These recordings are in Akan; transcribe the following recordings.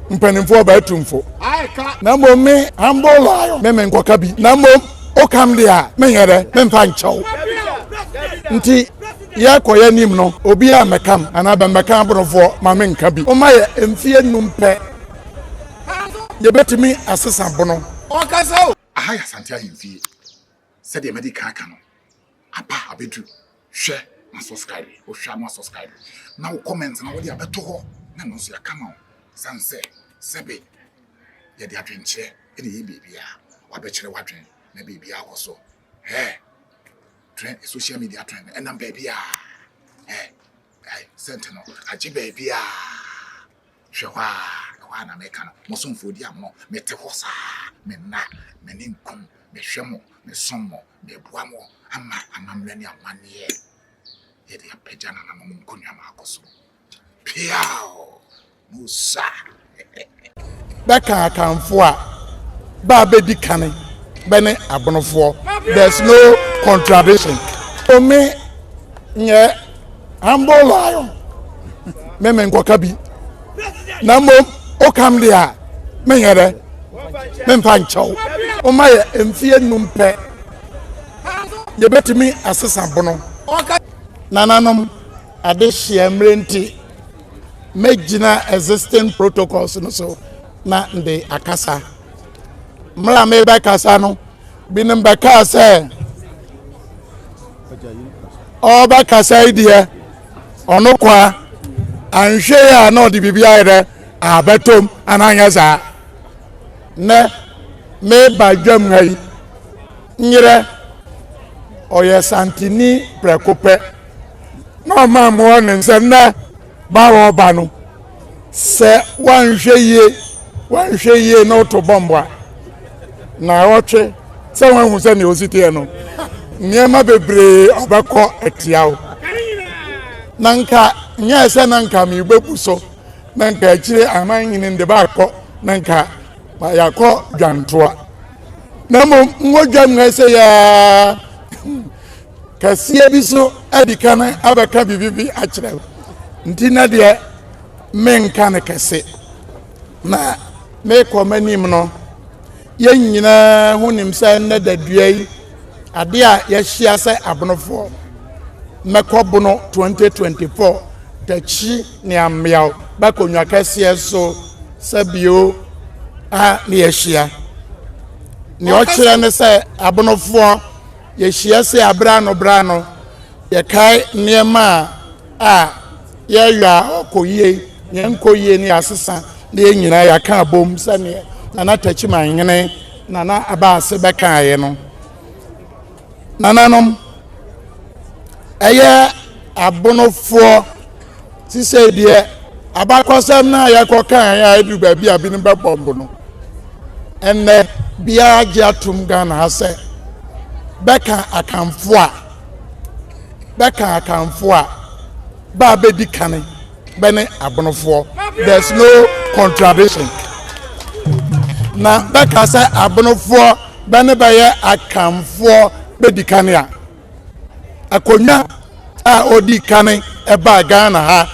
mpanimfoɔ bɛyɛ tumfo. Na mmom me humble lion me me nkɔka bi na mmom wokam deɛ a menyɛ dɛ memfa nkyɛ wo nti yɛkɔ yɛnim no obi a mɛkam anaa bɛmmɛka aborofoɔ ma menka bi woma yɛ mfeɛ num pɛ yɛbɛtumi asesa bono. Aha yɛ Asante ahemfie. Sɛdeɛ madi kan aka no, aba abɛdu, hwɛ ma subscribe, wohwɛ a na wasubscribe, na wo comment no wode abɛto hɔ na ɛno nso yɛaka ma wo, ɛsiane sɛ sɛbe yɛde adwenkyerɛ na ɛyɛ biribiara, wabɛkyerɛ w'adwene na biribiara kɔ so, eh, trend, social media trend no ɛnam baabiara, eh. Ai, sɛnte no, agye baabi a. Hwɛ hɔ a, ɛhɔ a na meka no, mo somfoɔ di amono, mete hɔ saa, me nna, m'ani nkum, mehwɛ mo, mesom mo, meboa mo, ama amammerɛ ne amanneɛ yɛde apagya nananom nkonnwa no akɔ soro. Peaw! Musa. Bɛka Akanfoɔ a, bɛ a bɛdi kane bɛne Abonofoɔ. There's no contradiction. So me nyɛ humble lion, me menkɔka bi. Na mmom, wokam deɛ a, menyɛ dɛ, memfa nkyɛw. Woma yɛ mfeɛ nnum pɛ, yɛbɛtumi asesa bono. Nananom adehyeɛ mmerɛ nti. mɛgyina existing protocols no so na mede akasa mmerɛ a mebɛkasa no binom bɛkaa sɛ ɔbɛkasa yi deɛ ɔno kwa anhwɛ yi a na ɔde biribi ayɛ dɛ abɛtom anaa nyɛ saa nɛ meba dwam ha yi Nyerɛ, ɔyɛ Santini prɛko pɛ, na ɔmaa mmoa ne nsam na ba ɔreba no, sɛ wanhwɛ yie, wanhwɛ yie na ɔto bɔmbo a, na ɔtwe sɛ wanhu sɛ nea ɔsi teɛ no, nneɛma bebree ɔbɛkɔ atia wo. Na nka nyɛɛ sɛ na nka mebɛbu so, na nka akyire aman nyini nde baakɔ, na nka yɛakɔ dwantoa. na mmom ngodwa mu ɛsɛ yaa kɛseɛ bi so adi ka no abɛka biribi bi akyerɛ nti na deɛ menka no kɛse na mekɔ m'anim no yɛn nyinaa ho nim sɛ nnɛ dadua yi adeɛ a yɛahyia sɛ abonofoɔ mɛkɔ bono 2024 takyi Nea mmeaw ba konwa kɛseɛ so sɛ bio a ne yɛahyia. Nea ɔkyerɛ ne sɛ abonofoɔ yɛhyia se a berɛ ano berɛ ano yɛkae nneɛma a yɛreyɔ a ɔkɔ yie ne ɛnkɔ yie ne yɛasesa ne yɛn nyinaa yɛaka abom sɛdeɛ Nana Takyimanhene Nana Abaase bɛkaeɛ no. Nananom, ɛyɛ abonofoɔ te sɛ deɛ abakɔsɛm no a yɛkɔkaeɛ a ɛduru baabi a binom bɛbɔ mbo no ɛnnɛ biara gye atom Ghana ha sɛ bɛka akanfoɔ a bɛka akanfoɔ a ba a bɛdi kane bɛne abonofoɔ there is no contradiction na bɛka sɛ abonofoɔ bɛne bɛyɛ akanfoɔ bɛdi kane a akonnwa a ɔdi kane ɛbaa ghana ha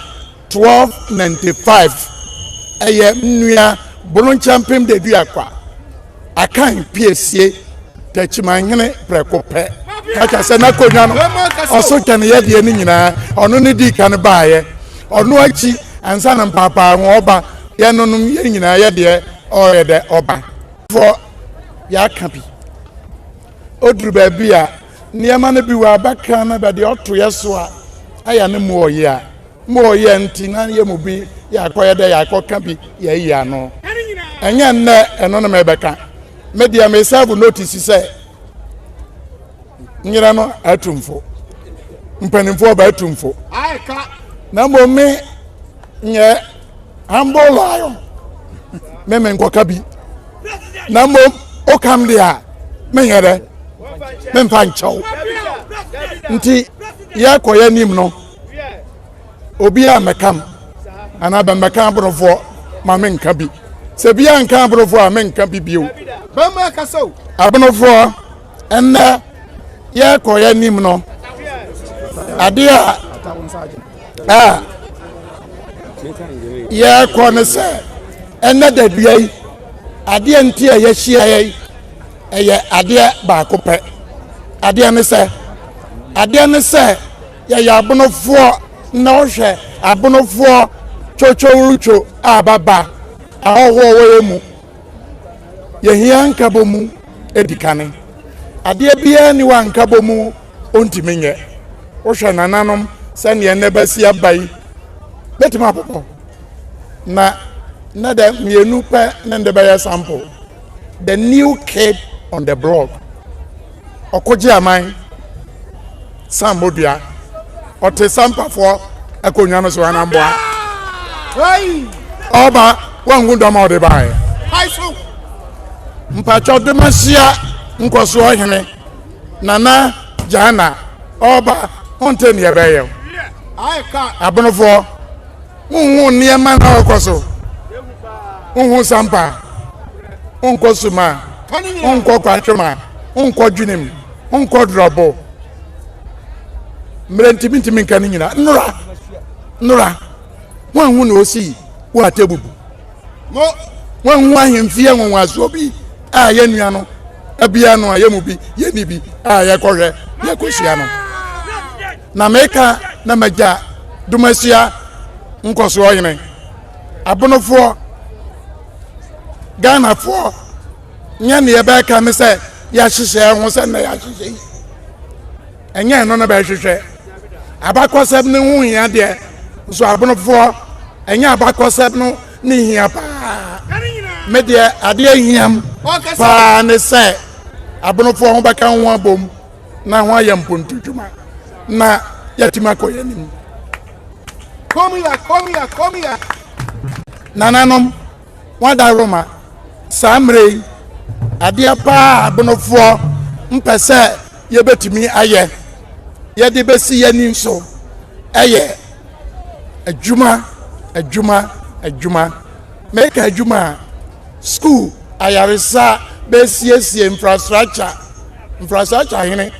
1295 ɛyɛ nnua bononkyɛmpem da dua kwa Akan piesie Takyimanhene prɛko pɛ, na kyerɛ sɛ n'akonnwa no ɔso kyɛne yɛdeɛ no nyinaa, ɔno ne dii kan baeɛ, ɔno akyi ansa na mpaapaa ho ɔba, yɛnonom yɛn nyinaa yɛdeɛ ɔyɛ dɛ ɔba. Fɔ yɛaka bi, ɔduru baabi a nneɛma no bi wɔ abakra no bɛdeɛ ɔtoyɛ so a, ayɛ ne mu ɔyɛ a. Mma ɔyɛ nti na yɛn mu bi yɛakɔyɛ dɛ yɛakɔka bi yɛayi ano. Ɛnyɛ nnɛ ɛno na merebɛka. Me deɛ me sɛɛvo notisi sɛ nyerɛ no atumfo, mpanimfoɔ ɔba atumfo. Na mmom me nyɛ humble lion me me nkɔka bi. Na mmom wokam deɛ a menyɛ dɛ memfa nkyɛw. Nti yɛkɔ yɛn anim no. Obiara mmɛka m, anaa bɛmmɛka aborofoɔ ma menka bi. Sɛ biara nka aborofoɔ a, menka bi bio. Bɛmma akasa o. Aborofoɔ, ɛnnɛ yɛrekɔ yɛn anim no, adeɛ a a yɛrekɔ no sɛ ɛnnɛ da dua yi, adeɛ nti a yɛahyia yɛ yi, ɛyɛ adeɛ baako pɛ. Adeɛ ne sɛ, adeɛ ne sɛ. Yɛyɛ abonofoɔ na wohwɛ abonofoɔ twotwowrotwo a baba ahɔhoɔ wɔ yɛn mu. Yɛhia nkabɔmu adikane. Adeɛ biara nni hɔ a nkabɔmu ɔntumi nyɛ. Wohwɛ nananom sɛdeɛ nnɛ bɛasi aba yi, bɛtumi abobɔ. Na na dɛ mmienu pɛ ne nde bɛyɛ sample. The new kid on the block. ɔkogye aman san modua ɔte sampafoɔ akonnwa no so anamboa ɔba wanhu dɔm a ɔde baeɛ mpakyɛw de ma hyia nkɔsoɔ hene nana gyaana ɔba ɔnte neɛ ɛbɛyɛ abonofoɔ Wonhu nneɛma na ɔkɔ so. Wonhu sampa. Wonkɔ suma. Wonkɔ kwantwoma. Wonkɔ dwenem. Wonkɔ drɔbo. Mmerɛ ntimi ntimi nka no nyina. Nnora. Nnora. Woanhu na ɔsi wo atebubu. Woanhu ahemfie nwonwasoɔ bi a yɛ nua no abia no a yɛ mu bi yɛni bi a yɛkɔhwɛ yɛkɔhyia no. Na meka na m'agya Domasia Nkɔsoɔhene, Abonofoɔ, Ghanafoɔ nyɛ ne yɛbɛka ne sɛ yɛahyehyɛ ho sɛ na yɛahyehyɛ yi ɛnyɛ ɛno na bɛhwehwɛ abakɔsɛm no ho hia deɛ nso abonofoɔ ɛnyɛ abakɔsɛm no ne hia paa me deɛ adeɛ hiam paa ne sɛ abonofoɔ ho bɛka ho abom na wɔayɛ mpontu dwuma na yɛatumi akɔ yɛn anim. Kɔmia, kɔmia, kɔmia. Nananom, wɔada Roma saa mmerɛ yi adeɛ paa abonofoɔ mpɛ sɛ yɛbɛtumi ayɛ yɛde bɛsi yɛni nso ɛyɛ adwuma adwuma adwuma Meka adwuma a, sukuu, ayaresa, bɛsiesie, infrastructure, infrastructure hene,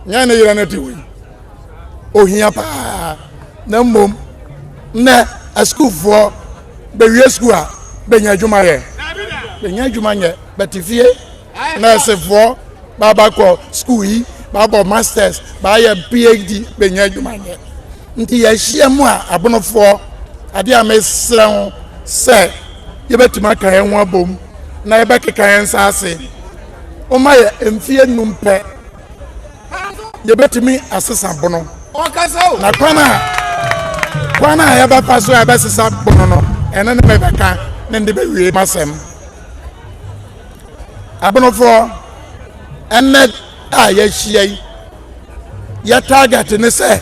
nyɛ ne yerɛ no te wei. Ohia paa, na mmom nnɛ asukuufoɔ bɛwie sukuu a, bɛnya adwuma yɛ? Bɛnya adwuma nyɛ, bɛte fie. nɛɛsefoɔ baabɛkɔ sukuu yi baabɔ masters baayɛ phd bɛnya adwuma nyɛ nti yɛahyia mu a abonofoɔ adeɛ a mesrɛ ho sɛ yɛbɛtumi aka yɛn ho abom na yɛbɛkeka yɛn nsa ase woma yɛ mfeɛ num pɛ yɛbɛtumi asesa bono na kwan a kwan a yɛbɛfa so a yɛbɛsesa bono no ɛno ne mebɛka ne de bɛwie masɛm Abonofoɔ, ɛnnɛ a yɛahyia yi, yɛ target ne sɛ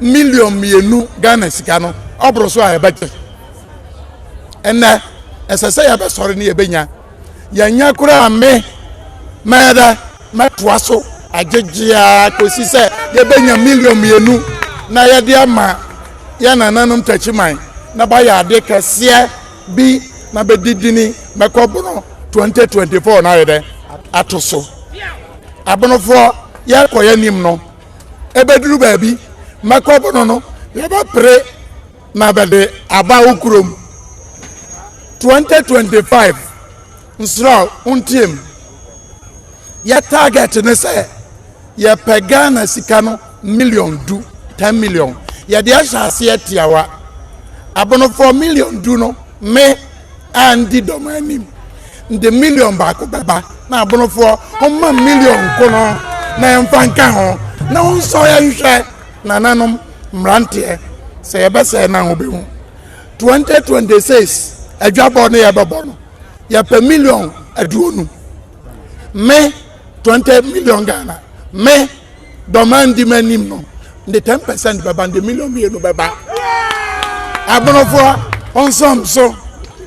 million mmienu Ghana sika no ɔboro so a yɛbɛgye. Ɛnnɛ, ɛsɛ sɛ yɛbɛsɔre ne yɛbɛnya. Yɛnya koraa me mɛyɛ dɛ mɛtoa so agyegyeaa kɔsi sɛ yɛbɛnya million mmienu na yɛde ama yɛn nananom takyiman na bayɛ ade kɛseɛ bi na bɛdi dini bɛkɔ bono 2024 no ayɛ dɛ ato so abonofoɔ yɛkɔ yɛnim no ɛbɛduru baabi mɛkɔ bono no yɛbɛpere na bɛde aba wo kurom 2025 Nsra wo ntie me. Yɛ target ne sɛ yɛpɛ Ghana sika no million du, ten million. Yɛde ahyɛ aseɛ tiawa. Abonofoɔ million du no me a ndi dɔm anim de million baako bɛba na abonofoɔ homma million nko no na yɛmfa nka ho na wonsɔ yɛ nhwɛ nananom mmeranteɛ sɛ yɛbɛsɛe no a wobɛhu 2026 adwabɔ no yɛbɛbɔ no yɛpɛ million aduonu me twenty million ghana me dɔma ndi m'anim no de ten percent bɛba de million mmienu bɛba aborofoɔ ɔnsɔm so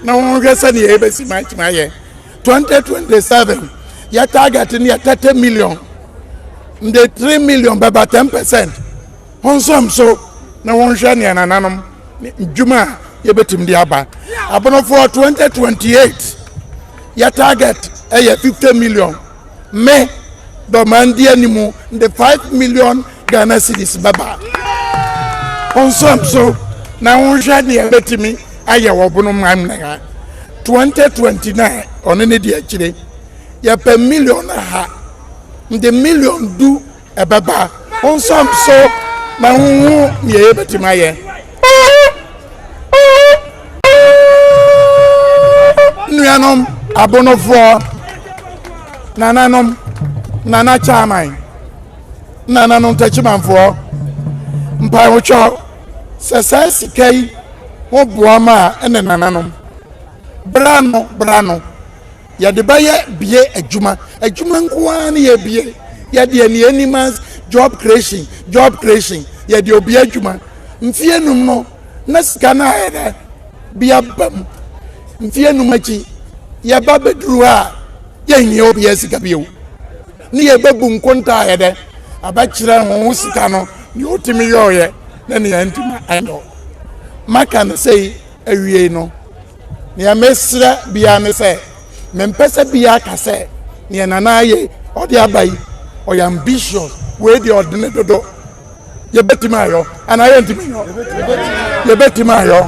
na wɔnhwɛ sɛdeɛ yɛbɛsi matumi ayɛ twenty twenty seven yɛ target no yɛ thirty million de three million bɛba ten percent Monsam so na monhwɛ nea nananom ne ndwuma a yɛbɛtumi de aba. Abonofoɔ 2028 yɛ target ɛyɛ 50 million. Me dɔman di anim de 5 million Ghana cedis bɛba. Monsam so na monhwɛ nea yɛbɛtumi ayɛ wɔ bonoman na ha. 2029 ɔno ne deɛ akyire yɛpɛ million aha. Nde million du ɛbɛba. Wo nso so ma honhu nea yɛbɛtumi ayɛ. Nuanom abonofoɔ, nananom, nana chairman, nananom takyimanfoɔ, mpaewotwɔ sɛ saa sika yi ho boa ma ɛne nananom. Bra no, bra no. Yɛde bɛyɛ bie adwuma adwuma nko ara ne yɛ bie yɛdeɛ ne anim as job creation job creation yɛde obi adwuma mfie num no na sika no ayɛ dɛ bi aba mu mfie num akyi yɛba bɛduru ha a yɛnyɛ obi asika bio ne yɛbɛbu nkonta ayɛ dɛ abɛkyerɛ ho sika no ne ɔtumi yɔɔyɛ ne ne antuma ɛyɔ maka no sɛi awiei no Nea mesrɛ biara ne sɛ mempɛ sɛ biara ka sɛ nea Nana ayɛ yi ɔde aba yi ɔyɛ ambitious wei deɛ ɔde ne dodo yɛbɛtumi ayɔ anaa yɛntumi nyɔ yɛbɛtumi ayɔ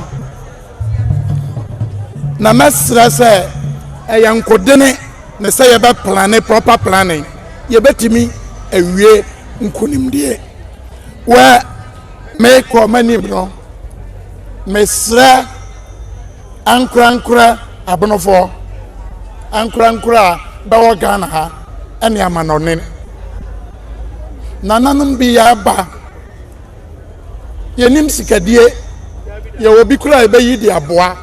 na mɛsrɛ sɛ ɛyɛ nkodene ne sɛ yɛbɛplane proper planning yɛbɛtumi awie nkonimdie wɛ Merekɔ m'anim no, mesrɛ ankorankorɛ abonofoɔ, ankorankorɛ a bɛwɔ Ghana ha ne amanɔne. Nananom bi yɛaba, yɛnim sikadie, yɛwɔ bi koraa yɛbɛyi de aboa.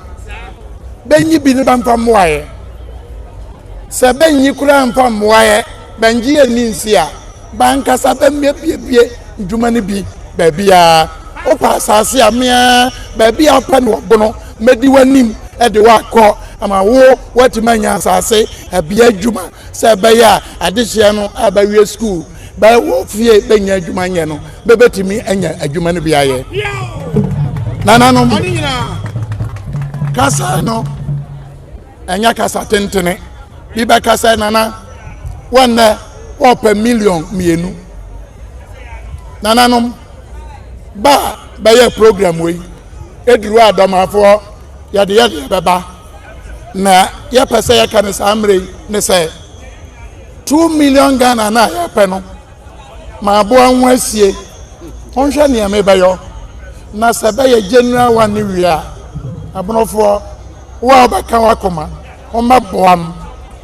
Bɛnyi bi ne bɛmfa mmoaeɛ. Sɛ bɛnyi koraa mfa mmoaeɛ. Bɛngye anni nse a, b'ankasa bɛmmeabuebue ndwuma no bi baabiara. Wopɛ asaase a, me ara, baabi a wopɛ no wɔ Bono, mɛdi w'anim de wo akɔ ama wo woatumi anya asaase bea adwuma sɛ ɛbɛyɛ a adehyeɛ no a bɛawie sukuu bɛ wɔ fie bɛnnya adwuma nyɛ no bɛbɛtumi anya adwuma no bi ayɛ. Nananom kasa no. Ɛnyɛ kasa tentene. Bi bɛka sɛ, Nana, wo nnɛ wɔpɛ million mmienu. Nananom, ba a bɛyɛ program wei, ɛduru a dɔmafoɔ yɛde yɛdeɛ bɛba. Na yɛpɛ sɛ yɛka no saa mmerɛ yi ne sɛ, two million Ghana no a yɛpɛ no, M'aboa ho asie. Honhwɛ nea mebɛyɔ. Na sɛ ɛbɛyɛ general one no wie a, Ɛbonofoɔ, wo a wobɛka w'akoma, wommɛboa m'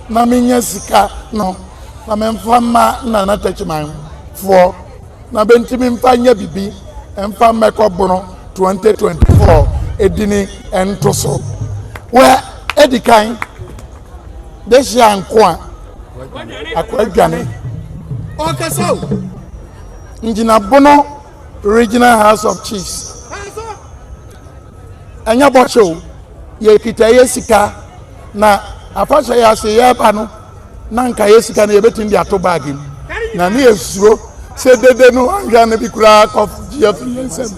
na mennya sika no na memfa mma Nana Takyiman foɔ na bɛntumi mfa nyɛ bibi mfa mmɛkɔ Bono 2024 edini ntoso. Wɛ, edikan. Dehyia Nkoa Akoadwane, ɔrekasa o. Ngyina Bono Regional House of Chiefs. Ɛnyɛ bɔhyɛ o, yɛkita yɛ sika na afahyɛ yɛ ase yɛreba no na nka yɛ sika no yɛbɛtumi de ato baage mu. Na ne yɛsuro sɛ dede no anhwɛ no bi koraa kɔ gye afiri yɛn nsam.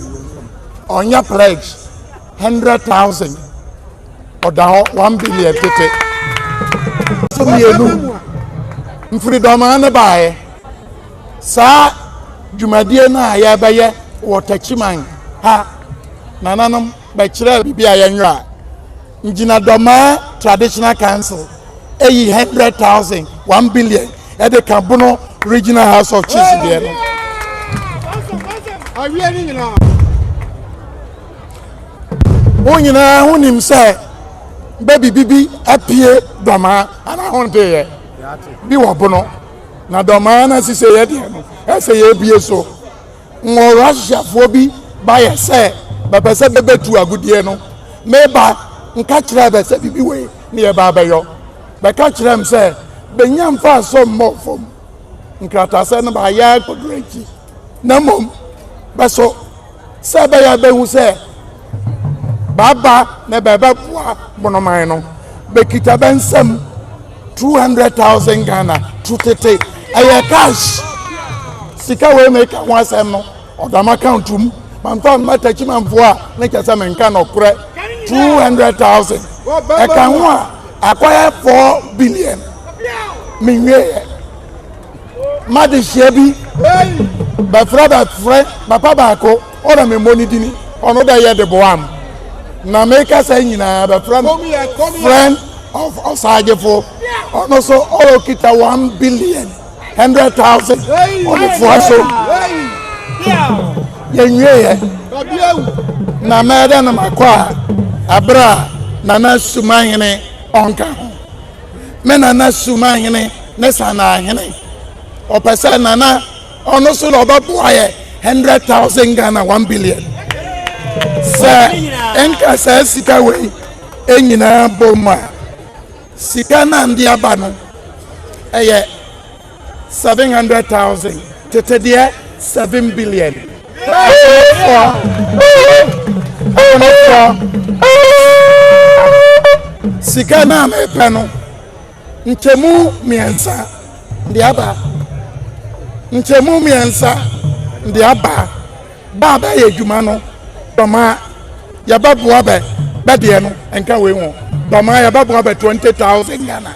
Ɔnyɛ pledge. hundred thousand ɔda hɔ one billion tete so mmienu mfiridɔmaa ne baeɛ saa dwumadie no a yɛbɛyɛ wɔ takyiman ha nananom bɛkyerɛ biribi a yɛnwerɛ a ngyinadɔmaa traditional council ɛyi hundred thousand one billion ɛde ka bono regional house of chiefs deɛ no awie ne nyinaa Wɔn nyinaa ho nim sɛ bɛbi bibi apue dɔmaa anaa ho nteeɛ bi wɔ bono na dɔmaa no asise yɛ deɛ no ɛsɛ yɛbie so wɔ russiafoɔ bi bayɛ sɛ bɛpɛ sɛ bɛbɛtu agudeɛ no meba nka kyerɛ bɛ sɛ bibi wei ne yɛba bɛyɔ bɛka kyerɛ m sɛ bɛnya mfa asɔ mmɔ fam nkratasɛ no baayɛ akɔdoro akyi na mmom bɛso Sɛ ɛbɛyɛ a ɛbɛhu sɛ bɛaba na bɛbɛboa Bonoman no, bɛkita bɛ nsam 200,000 Ghana tu tete. Ɛyɛ cash. Sika wei meka ho asɛm no, ɔda m'account mu. Mamfa mma Takyimanfoɔ a, ne kyɛ sɛ menka nɔkorɛ. 200,000. Ɛka ho a, akɔyɛ 4 billion. Menwieɛ. M'adehyeɛ bi bɛfrɛ bɛfrɛ papa baako ɔna memmɔ ne dini ɔno dɛ yɛ de boa m na meka sɛ nyinaa bɛfrɛ no friend of ɔsagyefo ɔno so ɔkita one billion hundred thousand ɔdefoa so yɛnwieɛ na mɛdɛ no makɔ a ɛberɛ a nana sumahene ɔnka ho me nana Sumahene ne Sanahene. Ɔpɛ sɛ nana ɔno so na ɔbɛboa yɛ hundred thousand Ghana one billion. Sɛ nka saa sika wei nyinaa bom a sika no ande aba no ɛyɛ seven hundred thousand tete deɛ seven billion akonofoɔ akonofoɔ sika no a mepɛ no nkyɛmu mmiɛnsa de aba nkyɛmu mmiɛnsa de aba Bɛ a bɛyɛ edwuma no, dɔma yɛbɛboa bɛ. Bɛ deɛ no, ɛnka wei ho. Dɔma yɛbɛboa bɛ twenty thousand Ghana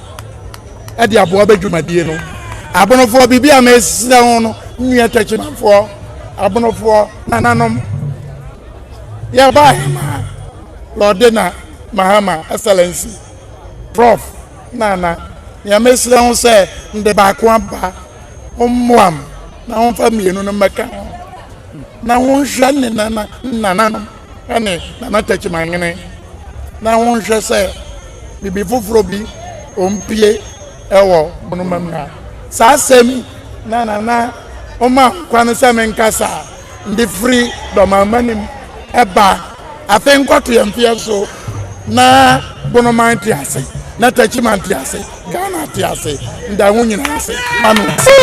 de aboa bɛ dwumadie no. Abonofoɔ, biribi a mesrɛ ho no, nnua Takyimanfoɔ, Abonofoɔ, nananom, yɛbaeɛ ma Lɔɔdena Mahama, Excellency, Prof. Nana, nea mesrɛ ho sɛ, mede baako aba, mommoam. na wɔmfa mmienu no mmɛka ho na wɔnhwɛ ne nana nananom ne nana takyimanwene na wɔnhwɛ sɛ biribi foforɔ bi ɔmpie wɔ bonoma mu a saa asɛm na nana ɔma nkwa no sɛ menkasa de firi dɔmama nim ɛba afei nkɔto yɛn mfeɛ so na bonoman te ase na takyiman te ase ghana te ase nda ho nyinaa ase ma no